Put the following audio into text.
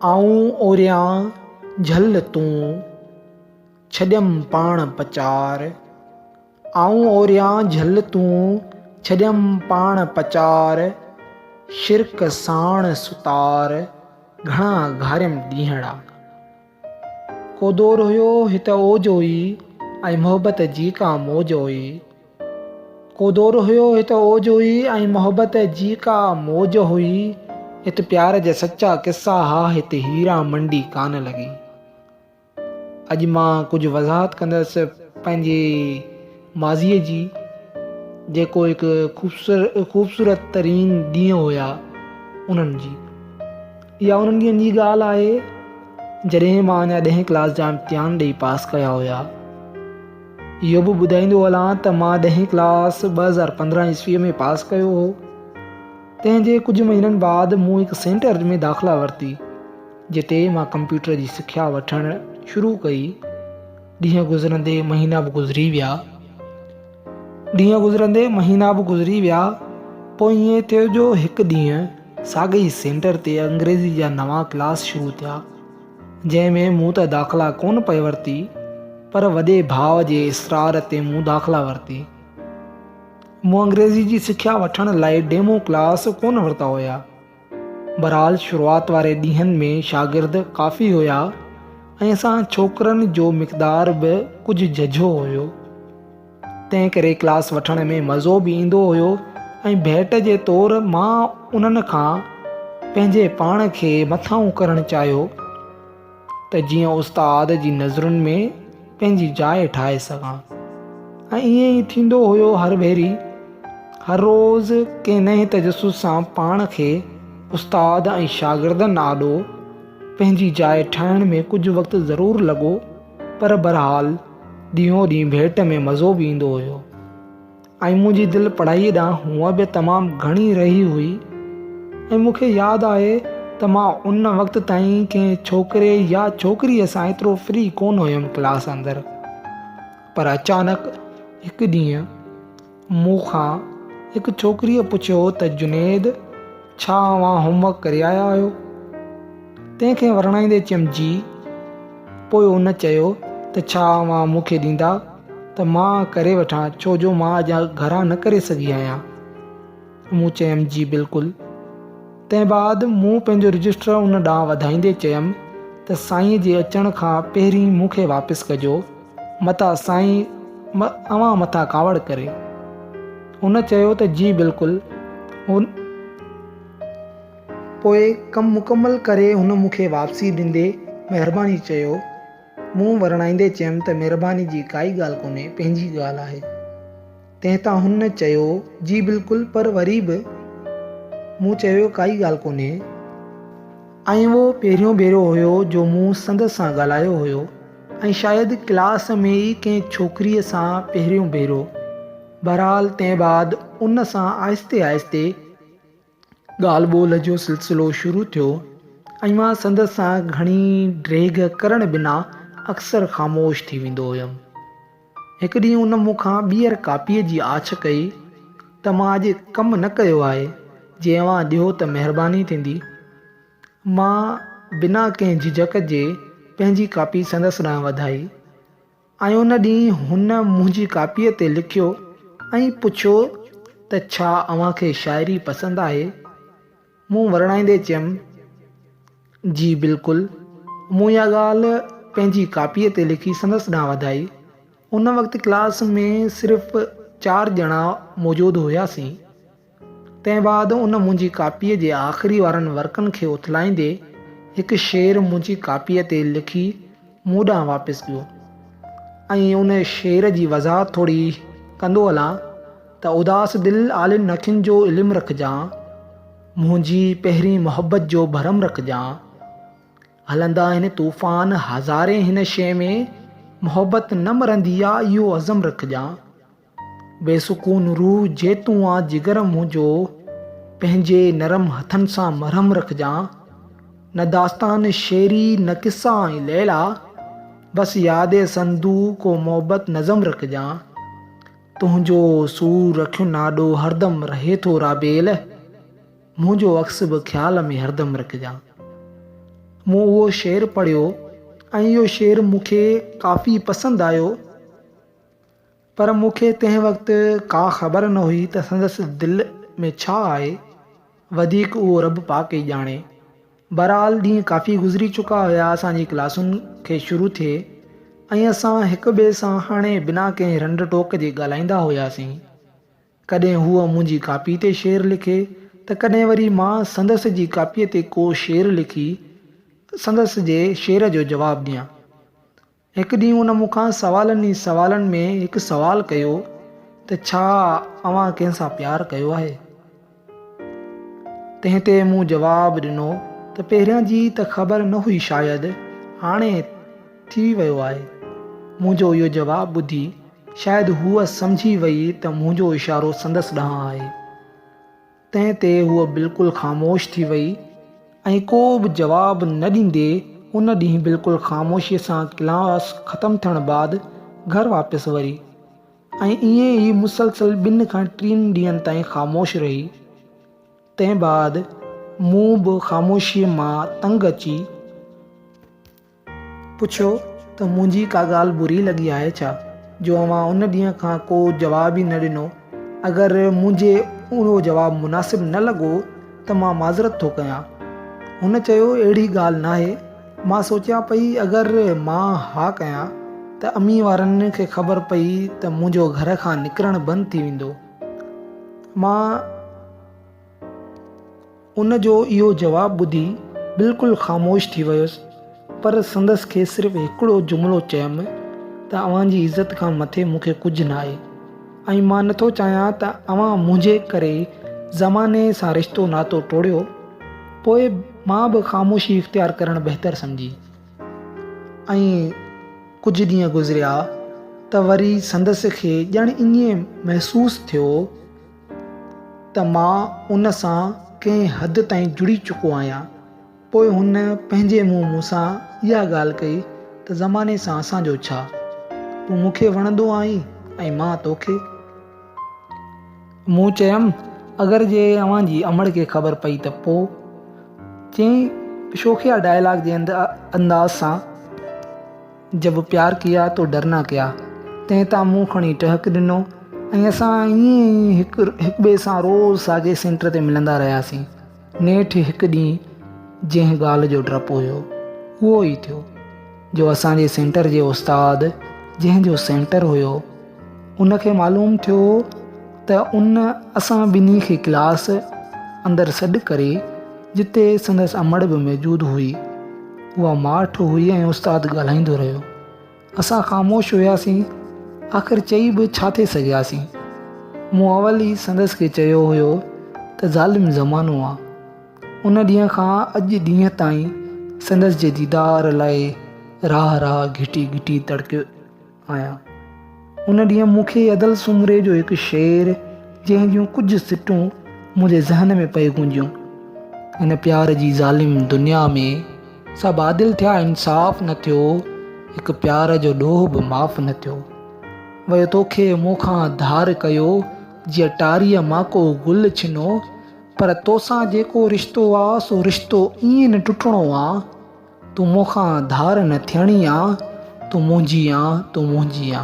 آئون اوريان جهل تون ڇڏيم پاڻ پچار آئون اوريان جهل تون ڇڏيم پاڻ پچار شرڪ ساڻ ستار گهڻا گهاريم ڏينهڙا. ڪو دور هيو هت اوج هئي ۽ محبت جي ڪا موج هئي ڪو دور هيو هت اوج هئي ۽ محبت جي ڪا موج هئي هت پيار جا سچا قصا ها هت هيرا منڊي ڪانه لڳي اڄ مان ڪجهه وضاحت ڪندس پنهنجي ماضي جي جيڪو هڪ خوبصورت ترين ڏينهن هيا انهن جي اها انهن ڏينهن جي ڳالهه آهي جڏهن مان اڃا ڏهين ڪلاس جا امتحان ڏئي پاس ڪيا هيا. اهو به ٻڌائيندو هلان ته مان ڏهين ڪلاس ٻه هزار پندرهن عيسويء ۾ پاس ڪيو هو. تنهن جي ڪجهه مهينن بعد مون هڪ سينٽر ۾ داخلا ورتي جتي مان ڪمپيوٽر جي سکيا وٺڻ شروع ڪئي. ڏينهن گذرندي مهينا به گذري ويا ڏينهن گذرندي مهينا به گذري ويا پوء ائين ٿيو جو هڪ ڏينهن ساڳئي ئي سينٽر تي انگريزي جا نوان ڪلاس شروع ٿيا، جنهن ۾ مون ته داخلا ڪونه پئي ورتي، پر وڏي ڀاء جي اصرار تي مون داخلا ورتي. مون انگريزي جي سکيا وٺڻ لاء ڊيمو ڪلاس ڪونه ورتا هيا. بهرحال شروعات واري ڏينهن ۾ شاگرد ڪافي هيا ۽ اسان ڇوڪرن جو مقدار به ڪجهه ججهو هيو. تنهن ڪري ڪلاس وٺڻ ۾ مزو به ايندو هيو ۽ ڀيٽ جي طور مان انهن کان پنهنجي پاڻ کي مٿاهون ڪرڻ چاهيو ته جيئن استاد جي نظرن ۾ پنهنجي جاء ٺاهي سگهان ۽ ائين ئي ٿيندو هيو هر ڀيري هر روز ڪنهن نئين تجسس سان پاڻ کي استاد ۽ شاگردن آڏو پنهنجي جاء ٺاهڻ ۾ ڪجهه وقت ضرور لڳو پر برحال ڏينهون ڏينهن ڀيٽ ۾ مزو به ايندو هيو ۽ منهنجي دل پڙهائي ڏانهن هونئن به تمام گهڻي رهي هئي ۽ مون کي ياد آهي ته مان ان وقت تائين ڪنهن ڇوڪري يا ڇوڪريء سان ايترو فري ڪونه هيم ڪلاس اندر پر اچانڪ هڪ ڏينهن مون کان هڪ ڇوڪريء پڇيو ته جنيد ڇا اوهان هوم ورڪ ڪري آيا آهيو؟ تنهن کي ورڻائيندي چمجي پوء ان چيو ته ڇا اوهان مون کي ڏيندا ته مان ڪري وٺان ڇو جو مان اڄ گهران نه ڪري سگهي آهيان. مون چيم جي بلڪل. تنهن بعد مون پنهنجو رجسٽر ان ڏانهن وڌائيندي چيم ته سائين جي اچڻ کان پهرين مون کي واپس ڪجو. متان سائين اوهان مٿان ڪاوڙ ڪري. هن چيو ته جي بلڪل. هن پوء ڪم مڪمل ڪري هن مون کي واپسي ڏيندي مهرباني چيو. مون ورڻائيندي چيم ته مهرباني جي ڪائي ڳالهه ڪونهي پنهنجي ڳالهه آهي. تنهن تان هن چيو، جي بلڪل پر وري به مون چيو ڪائي ڳالهه ڪونهي. ائين اهو پهريون ڀيرو هيو جو مون سندس سان ڳالهايو هيو ۽ شايد ڪلاس ۾ ئي ڪنهن ڇوڪريء سان پهريون ڀيرو. بهرحال تنهن بعد ان سان آهستي آهستي. ڳالهه ٻولهه جو سلسلو شروع ٿيو ۽ مان سندس سان گهڻي ڊيگهه ڪرڻ بنا اڪثر خاموش ٿي ويندو هيم. هڪ ڏينهن ان مون کان ٻيهر ڪاپيء جي آڇ ڪئي ته مان اڄ ڪم نه ڪيو آهي، جي اوهان ڏيو ته مهرباني ٿيندي. مان بنا ڪنهن جهجڪ جي پنهنجي ڪاپي سندس ڏانهن وڌائي. ۽ ان ڏينهن هن منهنجي ڪاپيء تي لکيو ۽ پڇيو ته ڇا اوهان کي شاعري پسند آهي؟ مون ورڻائيندي چيم، جي بلڪل. مون اها ڳالهه پنهنجي ڪاپيء تي لکي سندس ڏانهن وڌائي. ان وقت ڪلاس ۾ صرف چار ڄڻا موجود هياسين. تنهن بعد ان منهنجي ڪاپيء جي آخري وارن ورقن کي اٿلائيندي هڪ شعر منهنجي ڪاپيء تي لکي مون ڏانهن واپس ڪيو ۽ ان شعر جي وضاحت ٿوري ڪندو هلان ته اداس دل عالين اکين جو علم رکجان منهنجي پهرين محبت جو ڀرم رکجان هلندا هن طوفان هزارين هن شيء ۾ محبت نه مرندي آ اهو عزم رکجان بي سڪون روح جي تون آ جگر منهنجو، پنهنجي نرم هٿن سان مرهم رکجان، نه داستان شعري نه قصا ۽ ليلا، بس ياد سندو ڪو محبت نظم رکجان، تنهنجو سور رکين آڏو هردم رهي ٿو رابيل، منهنجو عڪس به خيال ۾ هردم رکجان. مون اهو شعر پڙهيو ۽ اهو شعر مون کي ڪافي پسند آيو. پر مون کي تنهن وقت ڪا خبر نه هئي ته سندس دل ۾ ڇا آهي، وڌيڪ اهو رب پاڪ ئي ڄاڻي. بهرحال ڏينهن ڪافي گذري چڪا هيا اسان جي ڪلاسن کي شروع ٿئي ۽ اسان هڪ ٻئي سان هاڻي بنا ڪنهن رنڊ ٽوڪ جي ڳالهائيندا هياسين. ڪڏهن هوء منهنجي ڪاپي تي شعر لکي ته ڪڏهن وري مان سندس جي ڪاپيء تي ڪو شعر لکي سندس جي شعر جو جواب ڏيان. هڪ ڏينهن هن مون کان سوالن ئي سوالن ۾ هڪ سوال ڪيو ته ڇا اوهان ڪنهن سان پيار ڪيو آهي؟ تنهن تي مون جواب ڏنو ته پهريان جي ته خبر نه هئي شايد هاڻي ٿي ويو آهي. منهنجو اهو جواب ٻڌي شايد هوء سمجهي وئي ته منهنجو اشارو سندس ڏانهن آهي. تنهن تي هوء بلڪل خاموش ٿي وئي ۽ ڪو به جواب نه ڏيندي ان ڏينهن بلڪل خاموشيء سان ڪلاس ختم ٿيڻ بعد گهر واپس وري ۽ ائين ئي مسلسل ٻن کان ٽين ڏينهن تائين خاموش رهي. تنهن بعد مون به خاموشيء مان تنگ اچي. پڇيو ته منهنجي ڪا ڳالهه بري لڳي آهي ڇا جو اوهان ان ڏينهن کان ڪو جواب ئي نه ڏنو. اگر منهنجي اهو جواب مناسب نه لڳو ته مان معذرت ٿو ڪيان. هن چيو اهڙي ڳالهه ناهي. مان سوچيان پئي اگر مان ها ڪيان ته امي وارن کي خبر پئي ته منهنجو گهر کان نڪرڻ بند ٿي ويندو. مان. ان جو اهو جواب ٻڌي بلڪل خاموش ٿي ويس پر سندس کي صرف هڪڙو جملو چيم ته اوهان جي عزت کان مٿي مون کي ڪجهه ناهي ۽ مان نٿو چاهيان ته اوهان منهنجي ڪري زماني سان رشتو ناتو ٽوڙيو پوء مان به خاموشي اختيار ڪرڻ بهتر سمجهي ۽ ڪجهه ڏينهن گذريا ته وري سندس کي ڄڻ ائين محسوس ٿيو ته مان ان سان ڪنهن حد تائين جڙي چڪو آهيان. پوء هن پنهنجي منهن مون سان اها ڳالهه ڪئي ته زماني سان اسان جو ڇا؟ تون مون کي وڻندو آهين ۽ مان تو کي. مون چيم، اگر جي اوهان جي امڙ کي خبر پئي ته پوء؟ چيائين شوخيا ڊائلاگ جي انداز سان. جب پيار ڪيا تو ڊرنا ڪيا تنهن تان مون کڻي ٽهڪ ڏنو ۽ اسان ائين ئي هڪ هڪٻئي سان روز ساڳئي سينٽر تي ملندا رهياسين. نيٺ هڪ ڏينهن جنهن ڳالهه جو ڊپ هيو اهو ئي ٿيو جو اسان جي سينٽر جي استاد جنهن جو سينٽر هيو ان کي معلوم ٿيو ته ان اسان ٻنهي کي ڪلاس اندر سڏ ڪري جتي سندس امڙ به موجود هئي اها ماٺ هئي ۽ استاد ڳالهائيندو رهيو اسان خاموش هياسين آخر چئي به ڇا ٿي سگهياسين مون اول ئي سندس کي چيو هيو ته ظالم زمانو آ ان ڏينهن کان اڄ ڏينهن تائين سندس جي ديدار لاء راهه راهه گهٽي گهٽي تڙڪيو آهيان. ان ڏينهن مون کي ادل سومري جو هڪ شعر جنهن جون ڪجهه سٽون منهنجي ذهن ۾ پئي گونجيون. هن پيار جي ظالم دنيا ۾ سڀ عادل ٿيا انصاف نه ٿيو هڪ پيار جو ڏوهه به معاف نه ٿيو ويو توکي مون کان ڌار ڪيو جيئن ٽاريء مان ڪو گل ڇنو پر توسان جيڪو رشتو آ سو رشتو ائين نه ٽٽڻو آ. تون مون کان ڌار نه ٿيڻي آ تون منهنجي آ تون منهنجي آ.